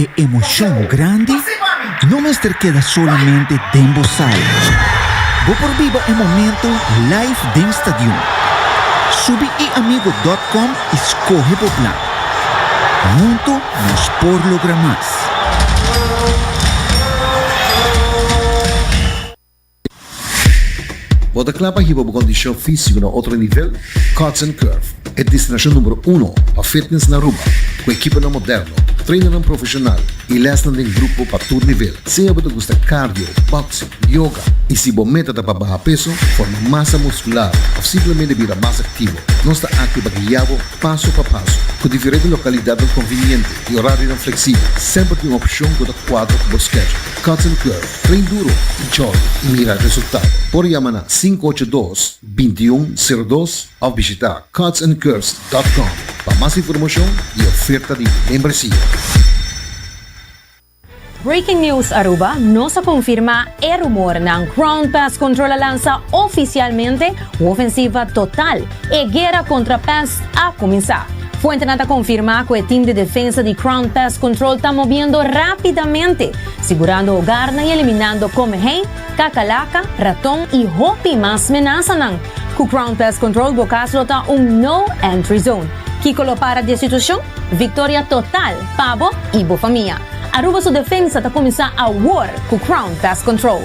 E emocion grandi no mester keda solamente den bo sala. Bo por biba e momento live den stadion. Subi eamigo.com y scoge bo plan. Hunto nos por logra mas. Bo ta kla pa hiba bo kondishon físiko na otro nivel? Cuts and Curve, e destinashon numero uno pa fitness na Aruba, ku ekiponan moderno, trainarnan profeshonal i lèsnan den grupo pa tur nivel. Sea bo ta gusta cardio, boxing, yoga i si bo meta ta pa baha peso, forma masa muskular òf simplemente bira mas aktivo, nos ta aki pa guia bo paso pa paso. Ku diferente lokalidatnan konviniente i orarionan fleksibel, semper tin un opshon ku ta kuadra ku bo schedule. Cotton Club, Train Duro, Chol y Mira Resultado. Por yama na sinku ocho dos, binti un sero dos of bishita cotsandcurves dot com pa mas informacion y oferta di membresia. Breaking News Aruba, Nos a confirma e rumornan, Crown Pest Control a lansa oficialmente Ofensiva Total E guera kontra pès a kuminsá. Fuentenan ta konfirmá ku e tim di defensa di Crown Pest Control ta mobiendo rápidamente, sigurando hogarnan i eliminando komehei, kakalaka, raton i hopi mas menasanan. Ku Crown Pest Control bo kas lo ta un No Entry Zone. Kiko lo para di e situashon? Viktoria total pa bo i bo famia! Aruba su defensa ta kuminsá awor ku Crown Pest Control.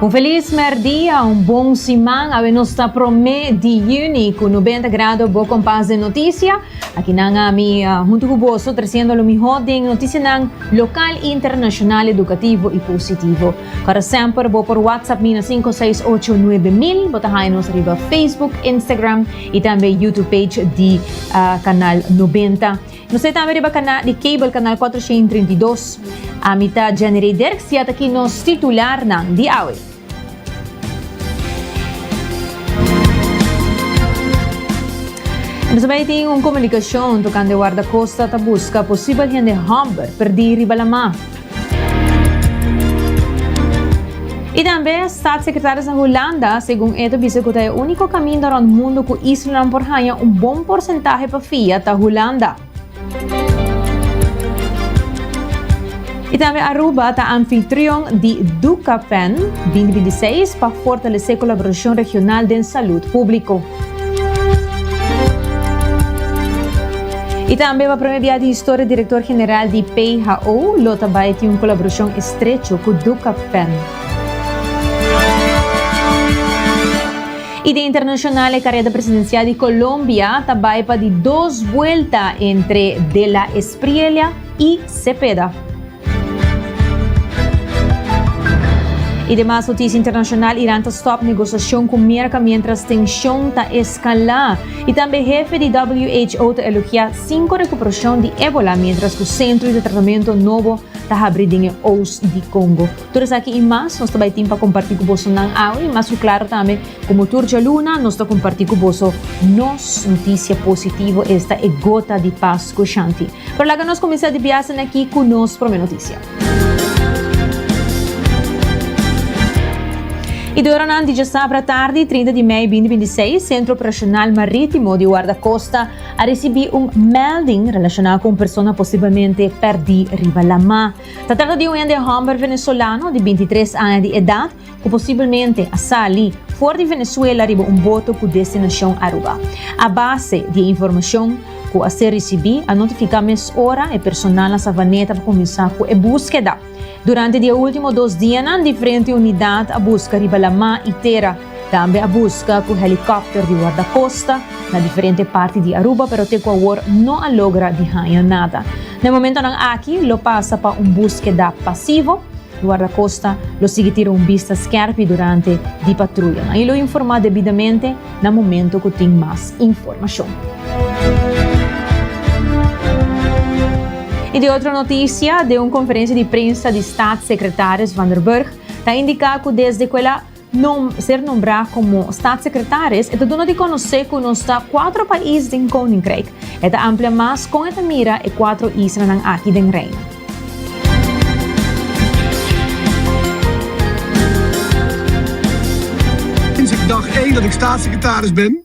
Un felis mèrdia, un bon siman. Awe nos ta promé di yüni ku nubenta grado bo kompas den notisia. Aki nan ami huntu ku boso trasiendo lo mihó den notisianan lokal i internashonal, edukativo i positivo. Para semper bo por WhatsApp mi na sinku seis ocho nuebe mil. Bo ta haña nos riba Facebook, Instagram i tambe YouTube page di Kanal Nobenta. Nos ta e tambe riba kanal di cable Kanal Kuater Sheen Trinta i Dos. Ami ta Jenirey Derks i ataki nos titularnan di awe. Nos bai tin un komunikashon tokante wardakosta ta buska posibel hende hòmber perdí riba lamá. I tambe Staatssecretaris na Hulanda, segun e ta bisa ku ta e úniko kaminda rònt mundu ku islanan por haña un bon porsentahe pa fia ta Hulanda. I tambe Aruba ta anfitrion di Ducapan binti binti seis pa fortalesé kolaborashon regional den salud públiko. I tambe pa prome bia di historia direktor general di PHO lo ta bai tin un kolaborashon estrecho ku Duka Pen. I den internashonal e kareda presidensial di Kolombia ta bai pa di dos buelta entre De La Espriella i Cepeda. I demas notisia internashonal, Iran ta stòp negosiashon ku Merka miéntras tenshon ta eskalá, i tambe hefe di who ta elogiá sinku rekuperashon di Ebola miéntras ku sentro di tratamentu nobo ta habri den e Oos di Kongo. Tur esaki i mas nos ta bai tin pa kompartí ku boso nan awe, mas ku klaru tambe komo tur djaluna nos ta kompartí ku boso nos notisia positivo, esta e gota di pas ku shanti. Pero laga nos kuminsá di biasen aki ku nos promé notisia. I di oranan di djasabra tardi, 30 di mei 2026, Sentro Operashonal Marítimo di Wardakosta a risibí un melding relashoná ku un persona posiblemente pèrdí riba lamá. Ta trata di un hende hòmber venezolano di bintitres aña di edat ku posibelmente a sali for di Venezuela riba un boto ku destinashon Aruba. A base di e informashon ku a ser risibí a notifiká mes ora e personal na Savaneta pa kuminsá ku e búskeda. Durante di e último dos dianan diferente unidat a buska riba lamá i tera. Tambe a buska cu helicopter di Guardacosta na diferente parti di Aruba pero te cu awor no a logra di haña nada. Na e momentonan aki lo pasa pa un buskeda pasivo. Guardacosta lo sigui tira un bista skerpi durante di patruyanan y lo informa debidamente na momento cu tin mas informacion. Y den otro noticia, den un conferencia di prensa di Staatssecretaris Van der Burg ta indica cu desde cu el a. Nom, ser nombrá komo Statssekretaris e ta duna di konosé ku nos ta kuatro pais den Koninkryk. E ta amplia mas kon e ta mira e kuatro islanan aki den Reino. Sinds ik dag één dat ik Statssekretaris ben,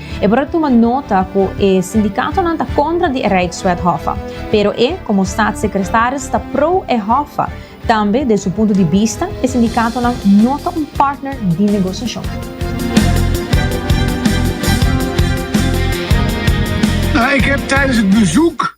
E por a tuma nota ku e sindikatonan ta kontra di e Rijkswet Hoffa. Pero e, komo Statssekretaris, ta pro e Hoffa. Tambe, den su punto di bista, e sindikatonan no ta un partner di negosiashon. Ik heb tijdens het bezoek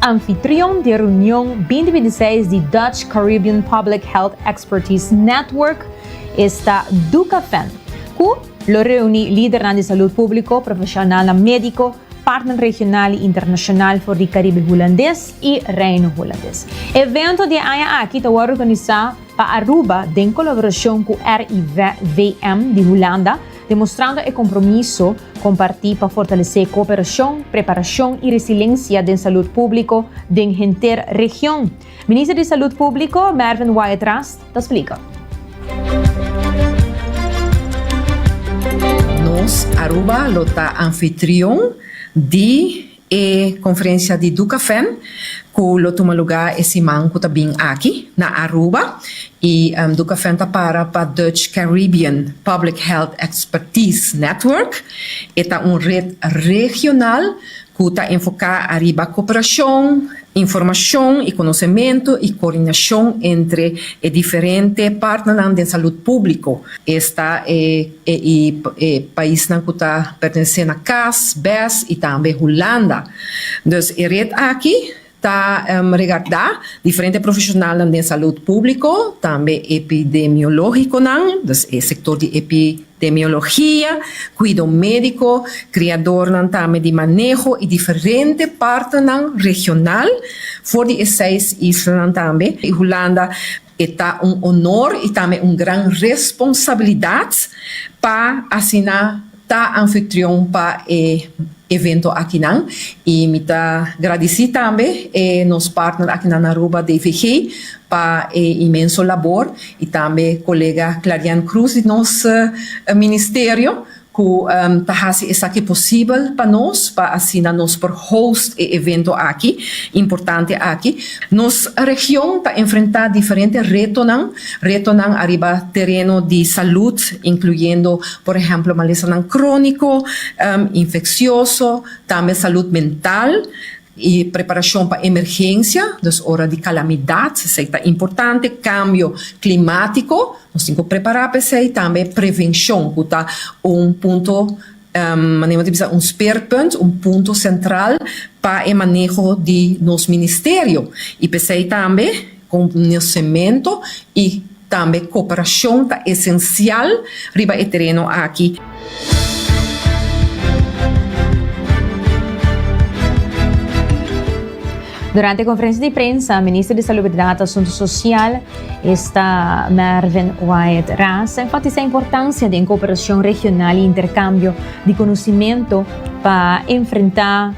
Anfitrion di e reunion binti binti seis di Dutch Caribbean Public Health Expertise Network esta Ducafen, cu lo reuni lidernan di salud publico, profesionalnan medico, partner regional y internacional for di Caribe Hulandes y Reino Hulandes. E evento di e aña aki ta worde organisa pa Aruba den colaboracion cu RIVM di Hulanda, demostrando e kompromiso kompartí pa fortalesé kooperashon, preparashon i resilensia den salud públiko den henter region. Minister di Salud Públiko, Mervin Wyatt Ras, ta splika. Nos Aruba lo ta anfitrion di E conferencia di Ducafem cu lo tuma luga e siman cu ta bin aki na Aruba y Ducafem ta para pa Dutch Caribbean Public Health Expertise Network. E ta un red regional cu ta enfoca ariba cooperacion, informacion y conocemento y coordinacion entre e diferente partnernan den salud publico. Esta e. E i e paisnan ku ta pertenesé na cas, bes i tambe Hulanda. Dus e ret aki ta regardá diferente profeshonalnan den salud públiko, tambe epidemiológikonan, dus e sektor di epidemiologia, kuido médiko, kriadornan tambe di maneho i diferente partenan regional for di e seis islanan tambe, i Hulanda. E ta un honor y tambe un gran responsabilidad pa asina ta anfitrion pa e evento akinan. Y mi ta gradici tambe e nos partner akinan na Aruba DVG pa e inmenso labor y tambe colega Clarian Cruz di nos Ministerio. cu ta haci esaki posibel pa nos pa asina nos por host e evento aki importante aki. Nos region ta enfrenta diferente retonan, retonan ariba tereno di salud incluyendo por ehemplo malesanan cronico, infeccioso, tambe salud mental. E preparashon pa emergensia, dus ora di kalamidat, esei ta importante. Kambio klimatiko, nos tin ku prepará pa esei. Tambe prevenshon ku ta un punto, mane'e ta bisa un speerpunt, un punto sentral pa e maneho di nos ministerio. I p'esei tambe. Konosementu i tambe koperashon ta esensial riba e tereno aki. Durante konferensia di prensa Minister di Salubridat i Asuntu Sosial, esta, Mervyn Wyatt Ras a enfatisá importansia den koperashon regional i interkambio di konosementu pa enfrentá.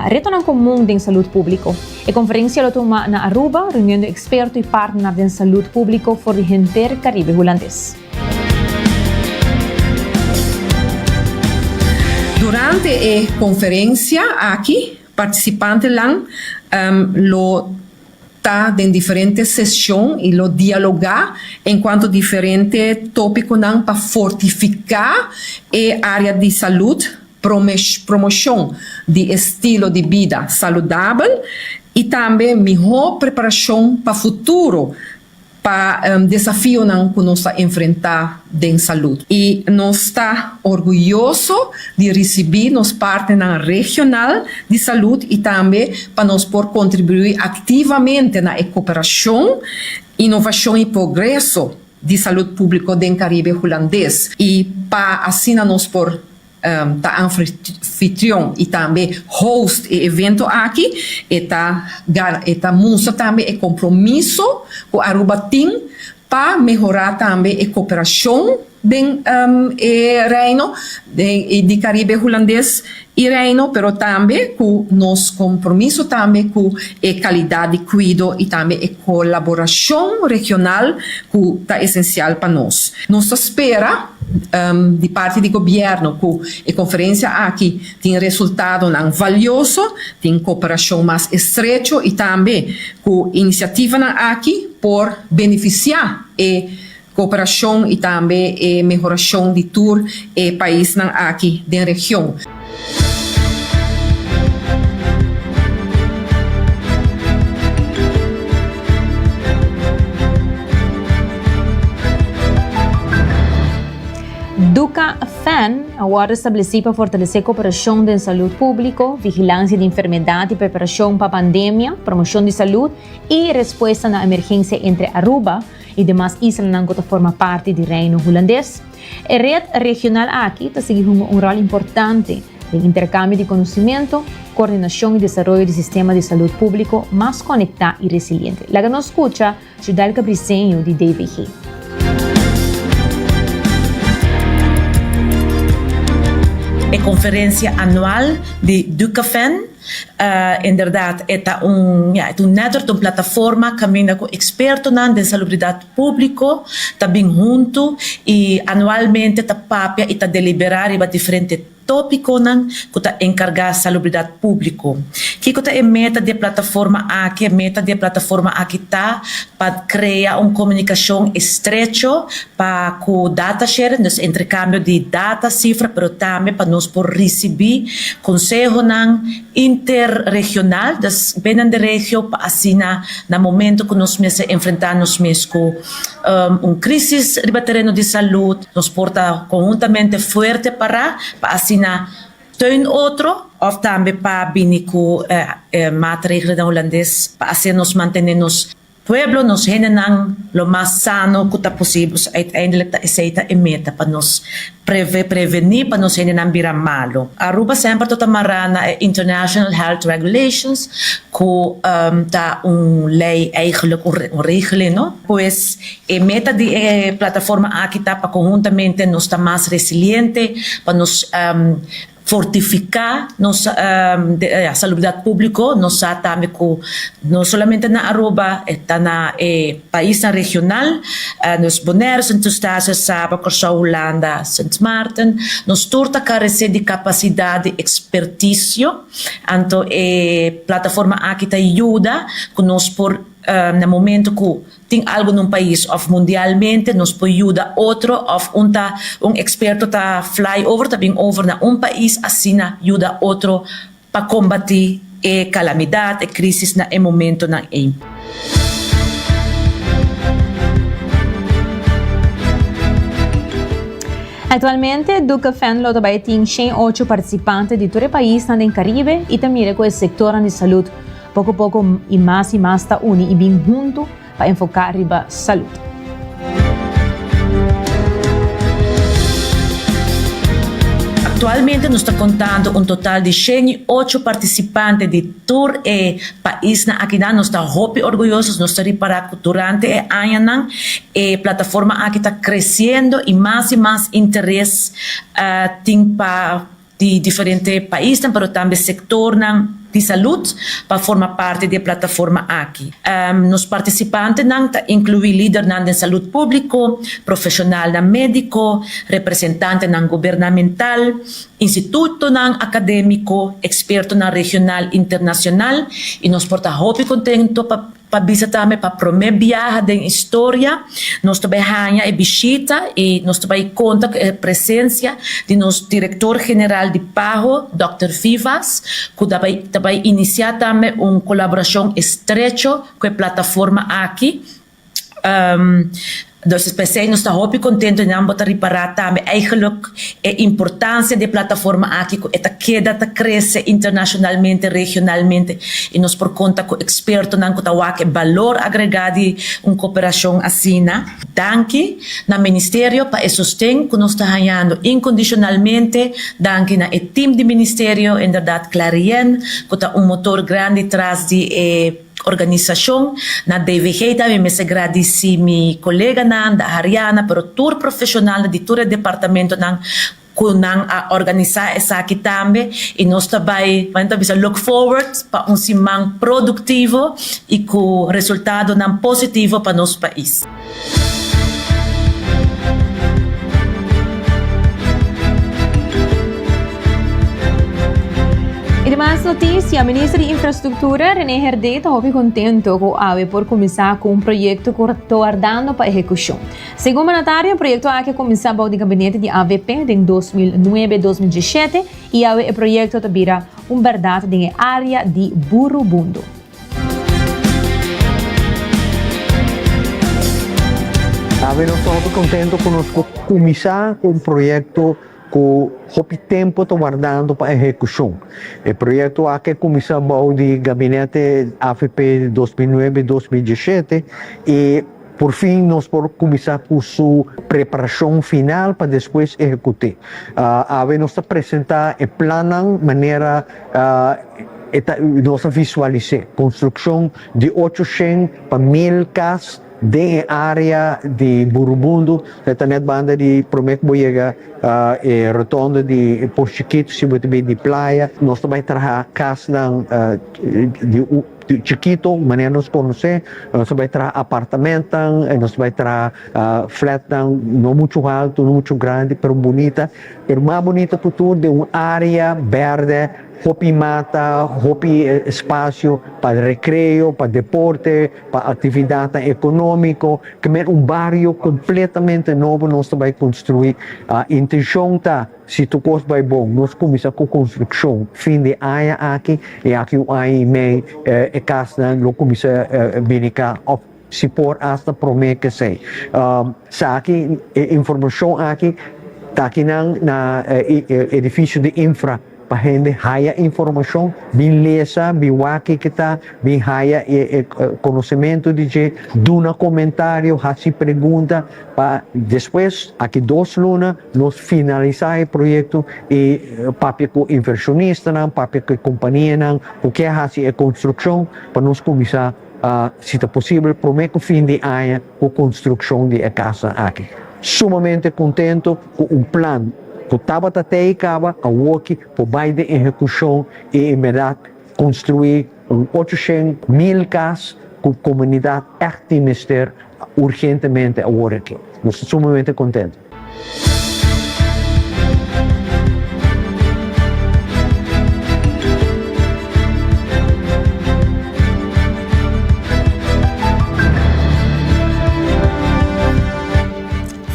Retonan komun den salud públiko. E konferensia lo tuma na Aruba, reuniondo eksperto i partner den salud públiko for di henter Karibe Hulandes. Durante e konferensia aki partisipantenan lo. ta den diferente sesion y lo dialoga en cuanto diferente topiconan pa fortifica e area di salud, promocion di estilo di bida saludabel y tambe mihor preparacion pa futuro. pa desafionan cu nos ta enfrenta den salud y nos ta orguyoso di ricibi nos partnernan regional di salud y tambe pa nos por contribui activamente na e cooperacion, innovacion y progreso di salud publico den Caribe Hulandes y pa asina nos por ta anfitrion y tambe host e evento aki e ta e ta mustra tambe e compromiso cu Aruba tin pa mehora tambe e cooperacion den e Reino di Caribe Hulandes y Reino pero tambe cu nos compromiso tambe cu e calidad di cuido y tambe e colaboracion regional cu ta esencial pa nos nos ta spera di parti di Gobierno cu e conferencia aki tin resultadonan valioso, tin cooperacion mas estrecho y tambe cu iniciativanan aki por beneficia e cooperacion y tambe e mehoracion di tur e paisnan aki den region. Duka Fan a wòrdu establesí pa fortalesé koperashon den salud públiko, vigilansia di enfermedat i preparashon pa pandemia, promoshon di salud i respuesta na emergensia entre Aruba i demas islanan ku ta forma parti di Reino Hulandes. E red regional aki ta sigui hunga un ròl importante den interkambio di konosementu, koordinashon i desaroyo di sistema di salud públiko mas konektá i resiliente. Laga nos skucha Judelka Briseño di DVG. E conferencia anual di Ducafen inderdaad e ta un network, ta un plataforma caminda cu expertonan den salubridad. Públiko ta bin huntu i anualmente ta papia i ta deliberá riba diferente tópikonan ku ta enkargá salubridat públiko. Kiko ta e meta di e plataforma aki? E meta di e plataforma aki ta pa krea un komunikashon estrecho pa ku data sharing, dus entrekambio di data, sifra, pero tambe pa nos por risibí konsehonan interregional, dus binnen de regio pa asina na momento cu nos mester enfrenta nos mes cu un crisis riba tereno di salud, nos por ta conhuntamente fuerte para pa asina teun otro of tambe pa bini cu e maatregelennan Hulandes pa hacer nos mantene nos Pueblo nos hendenan lo mas sano cu ta posibel, uiteindelijk ta esey ta e meta pa nos preveni pa nos hendenan bira malo. Aruba semper to ta mará na e International Health Regulations cu ta un ley eigenlijk un regeling no, pues e meta di e plataforma aki ta pa conhuntamente nos ta mas resiliente, pa nos Fortifiká nos salubridat públiko, nos sa tambe ku no solamente na Aruba, e ta na e paisnan regional, nos Bonèr, Sint Eustatius, Saba, Kòrsou, Hulanda, Sint Maarten, nos tur ta karesé di kapasidat di ekspertisio, anto e plataforma aki ta yuda ku nos por na momentu ku Tin algo n'un pais of mundialmente nos por yuda otro of un ta un experto ta fly over ta bin over na un pais asina yuda otro pa combati e calamidad, e crisis na e momentonan ey. Actualmente Duke Venlo ta bay tin shen ocho participante di tur e paisnan den Caribe y ta mira cu e sectornan di salud Poco poco y mas y mas ta uni y bin hunto pa enfoca riba salud. Actualmente nos ta contando un total di shen y ocho participante di tur e paisnan akinan. Nos ta hopi orguyoso, nos ta ripara cu durante e añanan e plataforma aki ta creciendo y mas y mas interes tin pa. di diferente paisnan pero tambe sektornan di salut pa forma parti di e plataforma aki. Nos partisipantenan ta inkluí lidernan den salut públiko, profeshonalnan médiko, representantenan gubernamental, institutonan akadémiko, ekspertonan regional i internashonal i nos por ta hopi kontento pa Pa bisa tambe pa promé biaha den historia nos ta bai haña e bishita i nos ta bai konta ku e presensia di nos Direktor General di Paho, Dòkter Vivas, ku ta bai ta bai inisiá tambe un kolaborashon estrecho ku e plataforma aki. Entonces p'esei nos ta hopi contento nan bo ta ripara tambe eigenlijk e importancia d'e plataforma aki cu e ta keda ta crece internacionalmente, regionalmente y nos por conta cu expertonan cu ta wak e balor agrega di un cooperacion asina. Danki na Ministerio pa e sosten cu nos ta hañando incondicionalmente, danki na e team di Ministerio, en berdad Clarien cu ta un motor grandi tras di e. Organisacion. Na DVG ta mi mester gradici mi coleganan, Dahariana, pero tur profesionalnan di tur e departamentonan cu nan a organisa esaki tambe y nos ta bay, como nan ta bisa, look forward pa un siman productivo y cu resultadonan positivo pa nos pais. I di mas notisia, Minister di Infrastruktura, René Herdé, ta hopi kontento ku awe por kuminsá ku un proyekto ku tordando pa ehekushon. Segun mandatario, e proyekto aki a kuminsá bou di gabinete di avp den dos mil nuebe, dos mil dieshete i awe e proyekto ta bira un bèrdat den e área di Burubundo. Awe nos ta hopi contento cu nos por cuminsa cu un proyecto cu hopi tempo ta wardando pa ehecucion. E proyecto aki cuminsa bao di gabinete avp dos mil nuebe dos mil dieschete y. Por fin nos por kuminsá ku su preparashon final pa despues ehekut'é. Awe nos ta presentá e plannan manera e ta nos a visualis'é, konstrukshon di ocho shen pa mil kas den e área di Burubundu, e ta nèt banda di promé ku bo yega e rotondo di Posh Chikito, si bo ta bai di playa, nos ta bai traha kasnan di. Di chikito, manera nos konos'é, nos a bai traha apartamentnan, nos a bai traha flatnan no muchu haltu, no muchu grandi, pero bunita. Pero mas bunita ku tur den un área bèrdè, hopi mata, hopi spasio pa rekreo, pa deporte, pa aktividatnan ekonómiko. Kimin un bario kompletamente nobo nos ta bai konstruí. Intenshon ta. Si tur kos bai bon, nos kuminsá ku konstrukshon. Fin di aña aki, i aki un aña i mei, e kasnan lo kuminsá bini ka òf si por asta promé kesei. Sa aki, e informashon aki ta aki nan na e edifisio di infra pa hende haya informashon, bin lesa, bin wak kiko ta, bin haya e konosementu di dje, duna komentario, hasi pregunta pa despues aki dos luna, Nos finalisá e proyekto i papia ku invershonistanan, papia ku e kompanianan ku ke hasi e konstrukshon pa nos kuminsá, si ta posibel, promé ku fin di aña ku konstrukshon di e kasnan aki. Sumamente kontentu ku un plan ku tabata te i kaba awoki por bai den ehekushon i inberdat konstruí un ocho shen mil kas ku komunidat ègt tin mester urgentemente aworakí. Nos ta sumamente kontentu.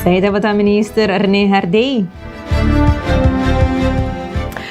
Esei tabata Minister Rene Hardey.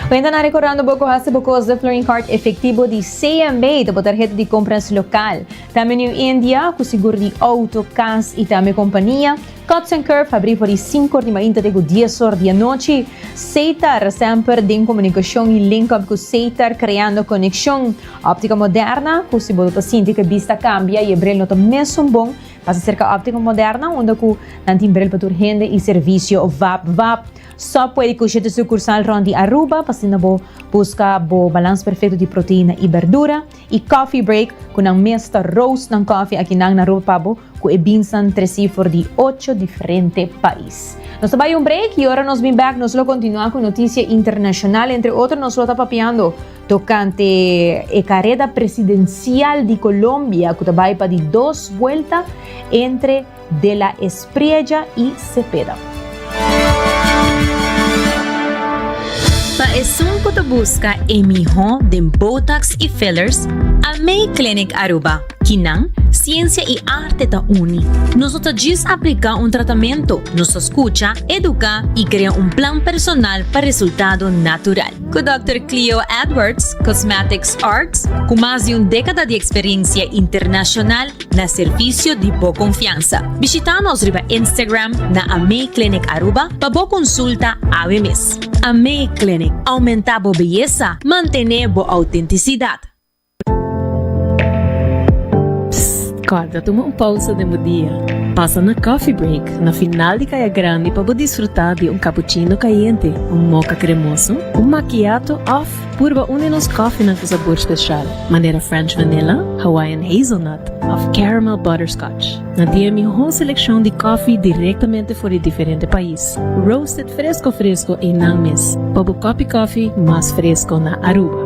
Cuenta nan recordando bo cu haci bo cos de Floreen Card efectivo di CMB ta bo tarheta di compras local. Tambe New India, cu sigur di auto, cas y tambe compania. Cuts and Curve habrí for di sinko'or di mainta te ku dies'or di anochi. Seitar, semper den komunikashon i link up ku Seitar, kreando konekshon. Optika Moderna, ku si bo lo ta sinti ku e bista kambia i e bril no ta mesun bon, pasa serka Optika Moderna unda ku nan tin bril pa tur hende i servisio vap vap. Sòp puedi kusha te sukursal rònt di Aruba pa sinda bo buska bo balans perfekto di proteina i berdura. I Coffee Break, ku nan mes ta roast nan kòfi aki nan na Aruba pa bo. ku e binsa'n tresi for di ocho diferente pais. Nos ta bai un break y ora nos bin back nos lo continua ku noticia internacional, entre otro nos lo ta papiando tocante e careda presidencial di Colombia ku ta bai pa di dos vuelta entre De la Espriella y Cepeda. Pa esun cu ta busca e miho den Botox y Fillers, Almay Clinic Aruba, Kinan, Ciencia y Arte ta uni. Nos no ta djis aplica un tratamento, nos ta scucha, educa y crea un plan personal pa resultado natural. Cu Dòkter Cleo Edwards, Cosmetics Arts, cu mas di un decada di experiencia internacional, na servisio di bo konfiansa. Bishitá nos riba Instagram na AME Clinic Aruba pa bo konsulta awe mes. AME Clinic, oumentá bo beyesa, mantené bo outentisidat. Psst! Kòrda tuma un pousa den bo dia. Pasa na Coffee Break na final di Kaya Grandi pa bo disfrutá di un kapuchino kayente, un moka kremoso, un makiato òf. Purba un di nos kòfenan ku sabor spesial, manera French Vanilla, Hawaiian Hazelnut òf Caramel Butterscotch. Nan tin e mihó selekshon di kòfi direktamente for di diferente pais, roasted fresko fresko ei nan mes pa bo kòpi kòfi mas fresko na Aruba.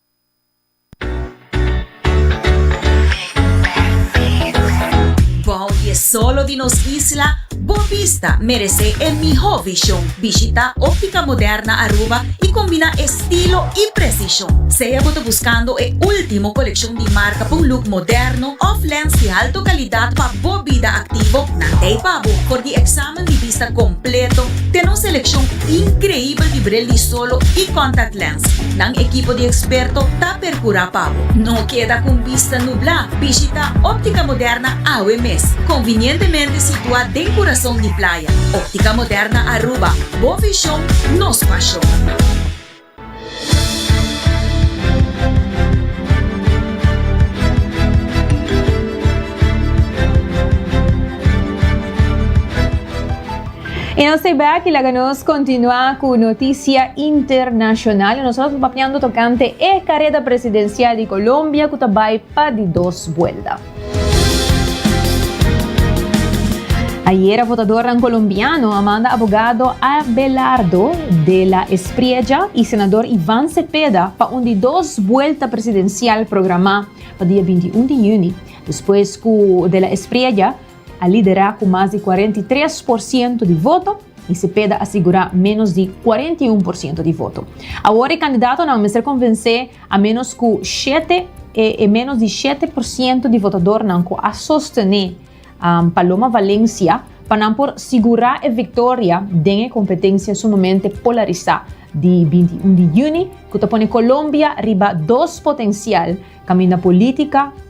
Bao di e solo di nos isla, bo bista merece e miho vision. Bishita Optica Moderna Aruba y combina estilo y precision. Sea bo ta buscando e ultimo coleccion di marca pa un look moderno of lens di halto calidad pa bo bida activo, nan t'ey pa bo for di examen. Taman di bista kompleto, ten un selekshon inkreibel di bril di solo i kòntact lens. Nan ekipo di eksperto ta perkurá pa bo. No keda ku un bista nublá! Bishitá Óptica Moderna awe mes, konvinientemente situá den kurason di playa. Óptica Moderna Aruba, bo vishon, nos pashon. E nos stay back y laga nos continua cu noticia internacional. Y nos lo papiando tocante e careda presidencial di Colombia cu ta bay pa di dos buelta. Ayera votadornan colombiano a manda abogado Abelardo de la Espriella y senador Ivan Cepeda pa un di dos buelta presidencial programa pa dia binti i un di juni, despues cu de la Espriella a lidera cu mas di cuarenta i tres por ciento di voto y Cepeda a sigura menos di cuarenta i un por ciento di voto. Awor e candidatonan mester convence A menos ku shete e menos di shete por siento di votadornan ku a sostené Paloma Valencia pa nan por sigurá e viktoria den e kompetensia sumamente polarisá di binti i un di yüni ku ta pone Colombia riba dos potensial kaminda polítika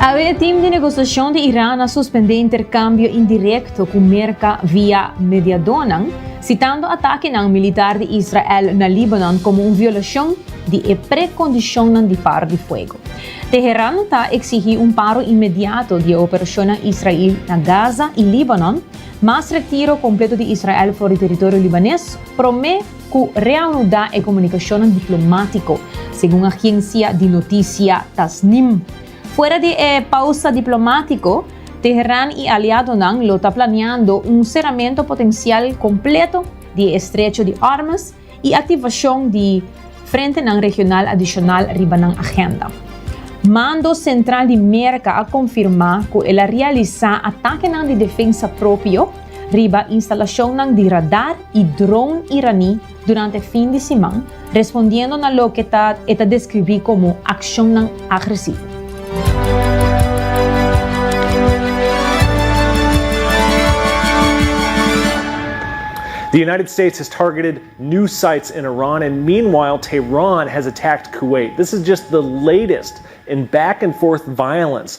Awe e tim di negosiashon di Iran a suspendé interkambio indirekto ku Merka via mediadónan, sitando atakenan militar di Israel na Líbanon komo un violashon di e prekondishonnan di par di fuego. Teheran ta eksigí un paro inmediato di e operashonnan Israel na Gaza i Líbanon, mas retiro kompleto di Israel for di teritorio libanes, promé, ku reanuda e komunikashonnan diplomátiko, segun agensia di notisia Tasnim. Fuera di e pausa diplomátiko, Teheran i aliadonan lo ta planeando un seramentu potensial kompleto di e estrecho di Ormuz i aktivashon di frentenan regional adishonal riba nan agenda. Mando Sentral di Merka a konfirmá ku el a realisá atakenan di defensa propio, riba instalashonnan di radar i dron iraní durante fin di siman, respondiendo na loke e ta deskribí komo akshonnan agresivo. The United States has targeted news sites in Iran and meanwhile Tehran has attacked Kuwait. This is just the latest in back and forth violence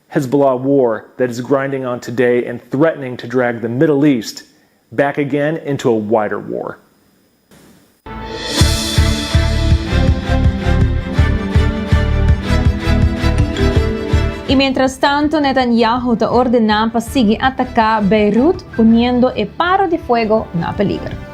Hezbollah war that is grinding on today and threatening to drag the Middle East back again into a wider war. Y mientrastanto Netanyahu ta ordená pa sigui atacá Beirut poniendo e paro di fuego na peliger.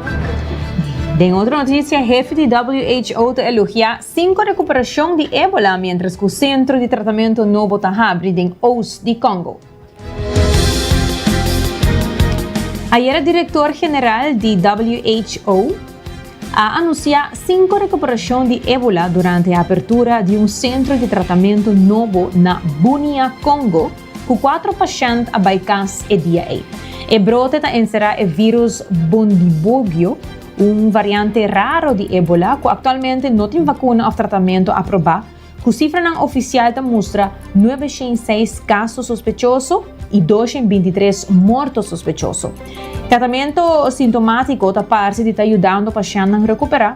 Den otro noticia, hefi di who ta elogia cinco recuperacion di Ebola mientras cu centro di tratamento nobo ta habri den Oost di Congo. Ayera director general di who a anuncia cinco recuperacion di Ebola durante e apertura di un centro di tratamento nobo na Bunia, Congo, Ku kuatro pashènt a bai kas e dia ei. E brote ta enserá e vírus Bundibugyo, un variante raro di ébola ku aktualmente no tin vakuna òf tratamentu aprobá, ku sifranan ofisial ta mustra nuebe shen i seis kaso sospechoso i dos shen binti tres morto sospechoso. Tratamentu sintomátiko ta parse di ta yudando pashèntnan rekuperá,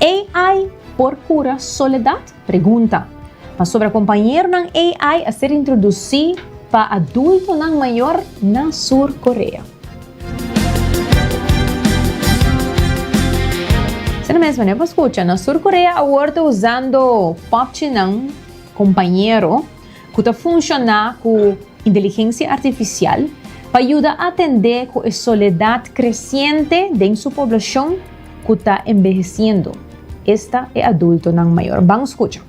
AI por cura soledad? Pregunta. Pasobra compañeronan AI a ser introducí pa adultonan mayor na Sur Corea. Asina mesmo ne bo scucha, na Sur Corea awor ta usando popchinan compañero. ku ta funshoná ku inteligensia artifisial pa yuda atendé ku e soledat kresiente den su poblashon ku ta enbehesiendo, esta e adultonan mayor. Ban skucha.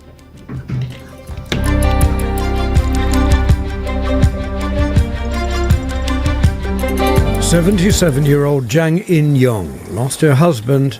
Seventy seven year old Jang In Young lost her husband,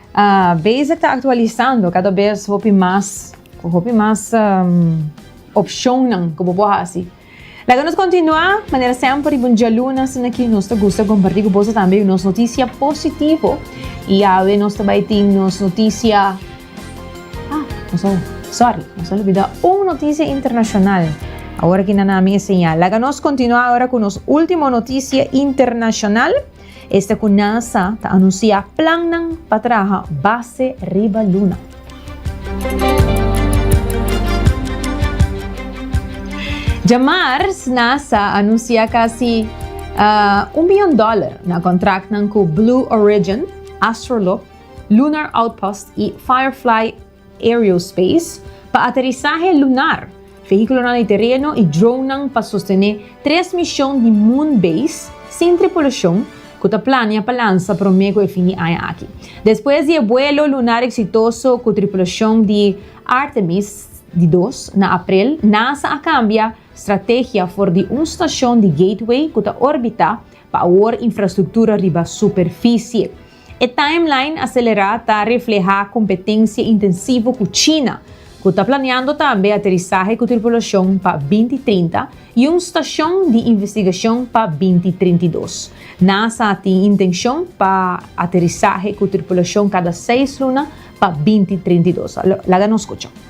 Ah, Basic ta aktualisando kada bes hopi mas ku hopi mas opshonnan ku bo por hasi. Laga nos kontinuá, manera semper riba un dialuna asina aki nos ta gusta kompartí ku boso tambe nos notisia positivo. I awe nos ta bai tin nos notisia, ah, nos a, sòri, nos a olbidá un notisia internashonal. Awor aki nan ami e señal. Laga nos kontinuá awor ku nos último notisia internashonal. Esta cu NASA ta anuncia plannan pa traha base riba Luna. Dja mars, NASA anuncia casi un bion dollar na contractnan cu Blue Origin, Astrolop, Lunar Outpost y Firefly Aerospace, pa aterisahe lunar, vehíkulonan di tereno i dronenan pa sostené tres mishon di Moon Base sin tripulashon ku ta plania pa lansa promé ku e fin di aña aki. Despues di e buelo lunar eksitoso ku tripulashon di Artemis di dos na aprel, NASA a kambia strategia for di un stashon di Gateway ku ta orbitá pa awor infrastruktura riba superfisie. E timeline aselerá ta reflehá kompetensia intensivo ku China, ku ta planeando tambe aterisahe ku tripulashon pa binti trinta i un stashon di investigashon pa binti trinta i dos. Nasa tin intenshon pa aterisahe ku tripulashon kada seis luna pa binti trinta i dos. Laga nos skucha.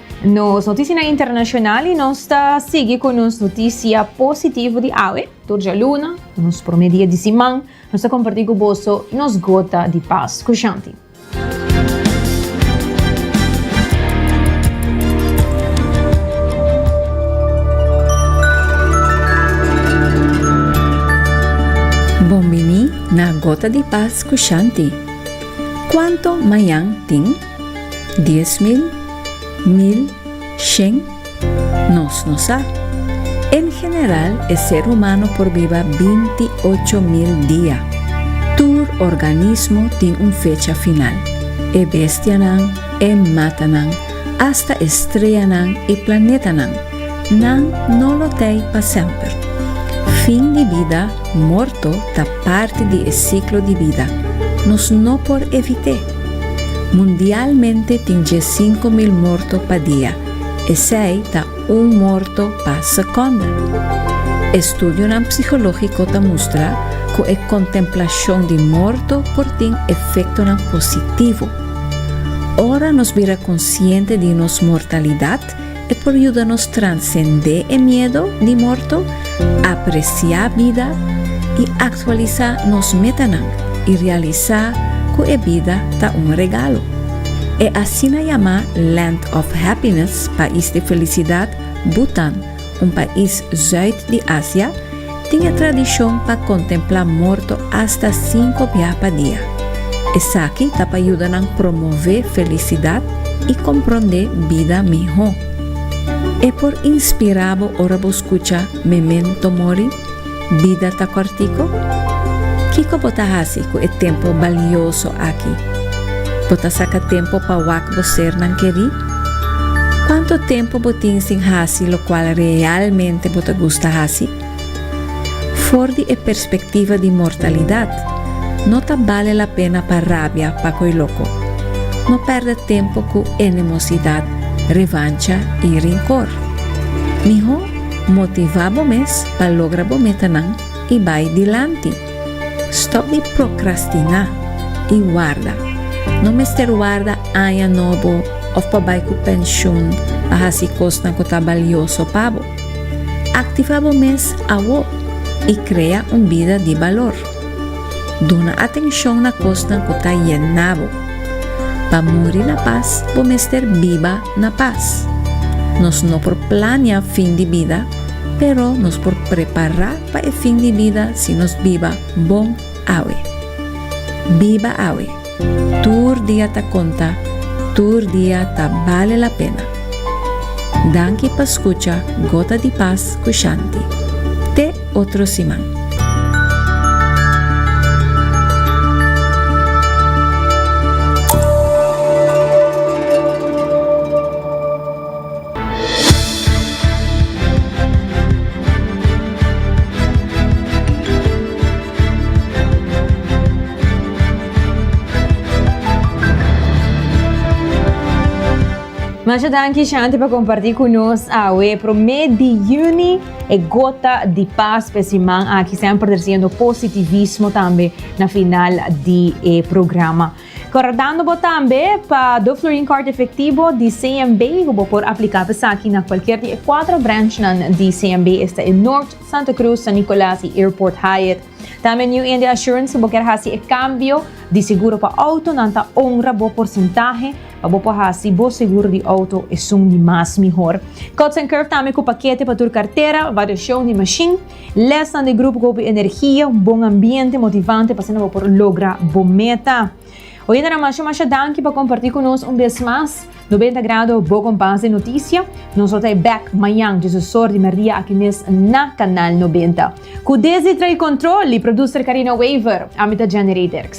Nos noticianan internacional y nos ta sigui cu nos noticia positivo di awe. Tur djaluna, pa nos prome dia di siman, nos ta comparti cu boso nos gota di pas. Cu Shanti. Bon bini na Gota di Pas cu Shanti. Cuanto mayan tin? Dies mil, mil, shen, nos no sa. En general e ser humano por biba binti ocho mil dia. Tur organismo tin un fecha final. E bestianan, e matanan, asta estreanan i planetanan. Nan no lo t'ei pa semper. Fin di bida, morto, ta parti di e siklo di bida. Nos no por evit'é. Mundialmente tin dje sinku mil morto pa dia, esei ta un morto pa sekonda. Estudionan psikológiko ta mustra ku e kontemplashon di morto por tin efektonan positivo. Ora nos bira konsiente di nos mortalidat, E por yuda nos transendé e miedo di morto, apresiá bida i aktualisá nos metanan i realisá ku e bida ta un regalo. E asina yamá Land of Happiness, Pais di Felisidat, Bhutan, un pais zùit di Asia, Tin e tradishon pa kontemplá morto asta sinku bia pa dia. Esaki ta pa yuda nan promové felisidat i komprondé bida mihó. E por inspirá bo ora bo skucha Memento Mori, Bida ta kòrtiko? Kiko bo ta hasi ku e tempu balioso aki? Bo ta saka tempu pa wak bo sernan kerí? Cuanto tempo bo tin sin haci locual realmente bo ta gusta haci? For di e perspectiva di mortalidad, no ta bale la pena pa rabia pa coy loco. No perde tempo cu enemosidad, revancha y rincor. Miho motiva bo mes pa logra bo metanan y bay dilanti. Stop di prokrastiná i warda. No mester warda aña nobo òf pa bai ku penshun pa hasi kosnan ku ta balioso pa bo. Aktivá bo mes awó i krea un bida di balor. Duna atenshon na kosnan ku ta yena bo. Pa muri na pas bo mester biba na pas. Nos no por plania fin di bida, pero nos por prepará Pa e fin di bida si nos biba bon awe. Biba awe, tur dia ta konta, tur dia ta bale la pena. Danki pa skucha Gota di Pas ku Shanti. Te otro siman. Masha danki Shanti pa kompartí ku nos awe e promé di yüni e gota di pas pa e siman aki, semper tresiendo positivismo tambe na final di e programa. Kordando bo tambe pa Doflurin Kòrt Efektibo di CMB ku bo por apliká pa esaki na kualkier di e kuatro branchnan di CMB, esta e Nort, Santa Krus, San Nikolas i Airport Hyatt. Tambe New India Assurance si bo kier hasi e kambio di seguro pa outo nan ta honra bo porsentahe pa bo por hasi bo seguro di outo esun di mas mihor. Cuts and Curve tambe ku pakete pa tur kartera, variashon di mashin, Lesnan di grupo cu hopi energia, un bon ambiente motivante pa asina bo por logra bo meta. Oyendenan masha masha danki pa comparti cu nos un bes mas. Nobenta Grado, bo compas di noticia. Nos lo ta e bek mayan Jesus sor di merdia aki mes na Canal Nobenta. Cu desdi trae control y producer Carina Wever. Ami ta Jenny Rederkx.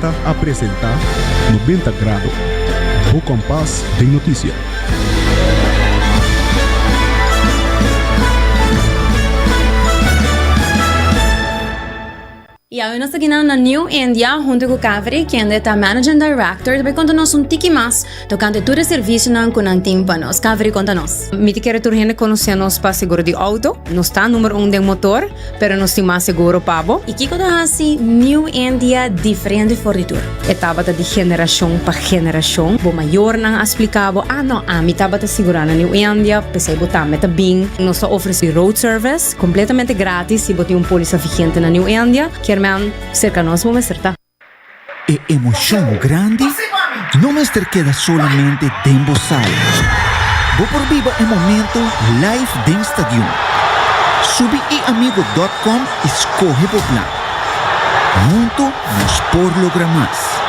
Ta a presenta Noventa Grado, bo kompas den notisia. Y awe nos ta kina na New India hunto cu Kaveri, kende ta Managing Director, ta bay conta nos un tiki mas Tocante e tur e servicionan cu nan tin pa nos. Caveri conta nos. Mi ta kere tur hende conoce nos pa seguro di auto. Nos ta numero un den motor, pero nos tin mas seguro pa bo. Y kico ta haci New India diferente for di tur? E tabata di generacion pa generacion. Bo mayornan a splica bo, ah no, ami tabata sigura na New India, pesey bo tambe ta bin. Nos ta ofreci road service completamente gratis si bo tin un polisa vigente na New India. Kier men cerca nos bo mester ta. E emocion grandi no mester keda solamente den bo sala. Bo por biba e momento live den stadion. Subi eamigo.com y scoge bo plan. Hunto nos por logra mas.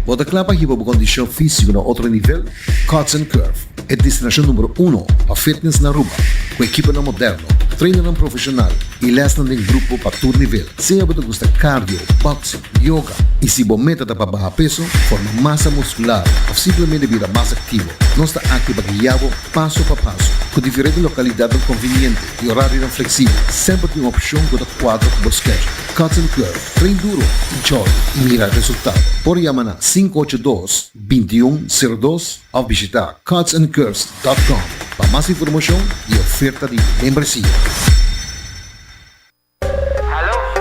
Bo ta kla pa hiba bo kondishon físiko na otro nivel? Cuts and Curve, e destinashon numero uno pa fitness na Aruba, ku ekiponan moderno, trainernan profeshonal i lèsnan den grupo pa tur nivel. Sea bo ta gusta cardio, boxing, yoga i si bo meta ta pa baha peso, forma masa muskular òf simplemente bira mas aktivo, nos ta aki pa guia bo paso pa paso. Ku diferente lokalidatnan konviniente i orarionan fleksibel, semper tin un opshon ku ta kuadra ku bo schedule. Cuts and Curve. Train duro, chòri i mira resultado. Por yama na sinku ocho dos, binti un, seru dos òf bishita cutsandcurves dòt kòm pa mas informashon i oferta di membresia.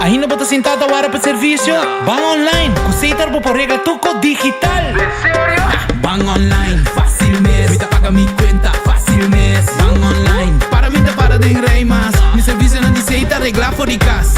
Ainda bo ta sintá ta wara pa servisio? Ban online ku Sater bo por regla tur kos digital. Ban online fásil mes, mi ta paga mi kuenta fásil mes. Ban online para mi ta para den rei mas, mi servisionan di Sater reglá for di kas.